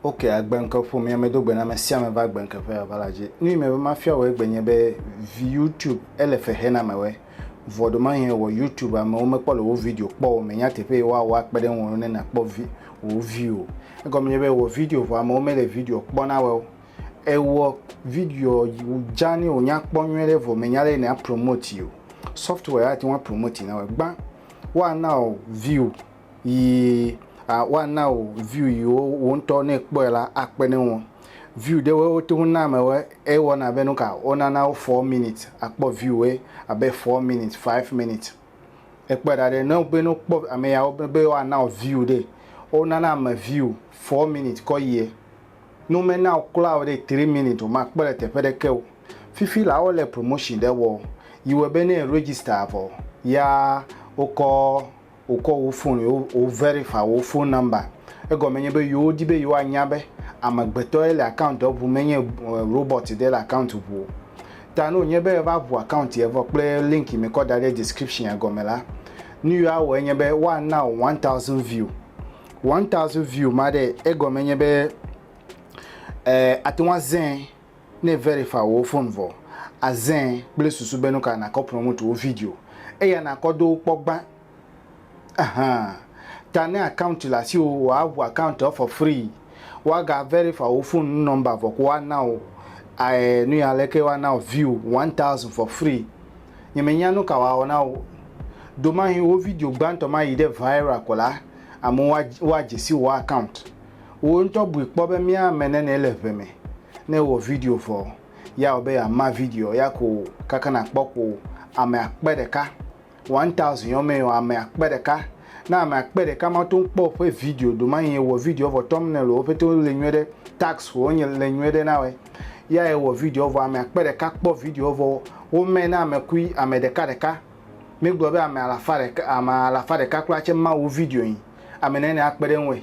ok agbenke ƒomea medo gbe na ame sia ame va agbenke ƒe ava la dzi nu yi me be mafia wɔ egbe nye be vi youtube ele fexe na me wɛ vɔ ɖo mahi wɔ youtube amewo mekpɔ le wo video kpɔ o menya teƒe yi woawɔ akpe ɖe ŋu ne nakpɔ vi wo vi o egɔme nye be wɔ video vɔ amewo mele video kpɔ na wɛ o ewɔ video dzani o nyakpɔ nyuie ɖe vɔ menya ɖe na promote o software ya tiwa promote na o gba wa na o view yi a wa na o view yi wo wo ntɔ ne kpɔ la akpe ne wo view de wo to na me wo e wo na be no ka o na na o 4 minutes akpɔ view e abe 4 minutes 5 minutes e kpɔ da de no be no kpɔ ame ya wo be wa na o view de o na na me view 4 minutes ko yi e Ne wome na wò kura o ɖe three minutes o, makpɔ le teƒe ɖeke o. Fifi la wole promotion ɖe wɔ yi wɔ be ne e register vɔ ya wokɔ wokɔ wò phone wo wo verify wò phone number. Egɔme nye be yewo di be yewoa nya be amegbetɔ ye le account ŋu menye robot ɖe le account ŋu o. Ta ne wonye be eva ŋu account ye vɔ kple link yi mekɔ da ɖe description ya gɔme la, nu yi woa wɔ enye be woa na wò one thousand view. One thousand view ma ɖe egɔme nye be eh, ate ŋu azẽ ne verify wò phone vɔ azẽ kple susu be nuka nakɔ ƒlɔ ŋutsuwo video eya nakɔ do wo kpɔ gbã. Ahan. Ta ne account le asiwò woaʋu accounta for free. Woaga verify wò phone number vɔ ko woana wò eh, nuya leke woana wò view one thousand for free. Nye menya nuka woawɔ na wò. Domahi wò video gbãtɔ ma yi ɖe viral ko la, amewo woa, woa dzesi wò account. Wò ŋutɔ bui kpɔ be mía ame nene le ŋe me. Ne ewɔ video vɔ, ya wɔ be yeama video ya ko kaka nàkpɔ ko ame akpe ɖeka, one thousand yɔ mee o, ame akpe ɖeka. Ne ame akpe ɖeka ma to kpɔ woƒe video doma yi ewɔ video vɔ, thumbnail wò pete wo le nyuie ɖe, tags wò nye le nyuie ɖe na wɔ ya ewɔ video vɔ, ame akpe ɖeka kpɔ video vɔ wo mɛ na ame kui ame ɖeka ɖeka. Míegblɔ be ame alafa ɖeka, ame alafa ɖeka kura tse ma wò video nyi. Ame nɛnɛ akpe ɖe ŋue.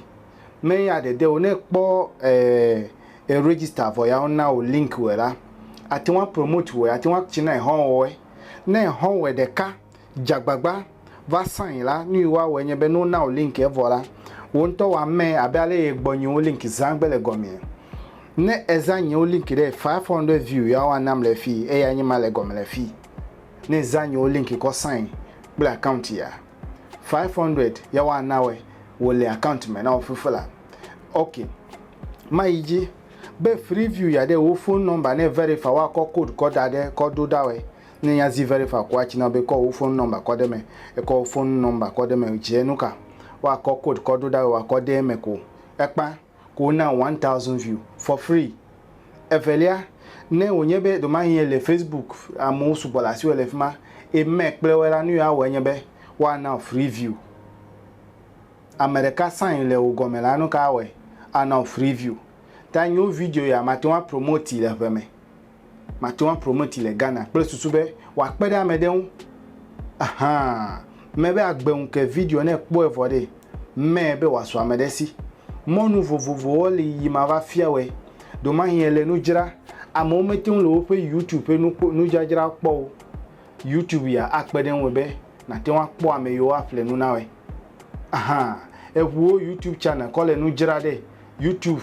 Me ya dede o. Ne ekpɔ e e register vɔ ya wona wò link wɛ la, ate ŋu a promote wɛ, ate ŋu a tsi na ehɔ wɔwɔɛ. Ne ehɔ wɛ ɖeka dze agbagba va sign la, nu yi woawɔɛ nye be ne wona wò link evɔ la, wò ŋutɔ wò amɛ abe ale yi egbɔ nyiwo link zã gbe le gɔmea. Ne ezã nyiwo link ɖe, five hundred view ya woanam le fii eya nye ma le gɔme le fii. Ne zã nyewo linki kɔ sign kple account ya 500 ya wa nawe wole account me nawo fufu la ok ma yi dzi be free view ya ɖe wo phone number ne verify wa kɔ code kɔ da ɖe kɔ do da we ne ya zi verify kɔ atsi na be kɔ wo phone number kɔ ɖe me ekɔ phone number kɔ ɖe me dze nuka wa kɔ code kɔ do da we wa kɔ ɖe me ko ekpa. ko wona one thousand view for free. Evelia, ne wònye be ɖewomahi èle Facebook, amewo sugbɔ le asiwò le fi ma, eye meme kple woe la, nu yi woawɔe nye be woana wò free view. Ame ɖeka sign le wò gɔme la, nu ka awɔe? Ana wò free view. Ta nyewo video ya mate ŋu apromoti le ŋe me. Mate ŋu aprometi le Ghana kple susu be wòakpe ɖe ame ɖe ŋu ahan. Mebe agbe ŋu ke video ne ekpɔe vɔ ɖee, mee be wòasu ame ɖe si. Mɔnu vovovowo li yi mava fia wɔe. Ɖewomahi èle nu dzra, amewo mete ŋu le woƒe YouTube ƒe nu kpɔ, nudzadzrawo kpɔ o. YouTube ya akpe ɖe ŋuwò be nàte ŋu akpɔ ame yiwo aƒle nu na wòe ahan. Eŋuwo YouTube channel kɔ le nu dzra ɖe YouTube.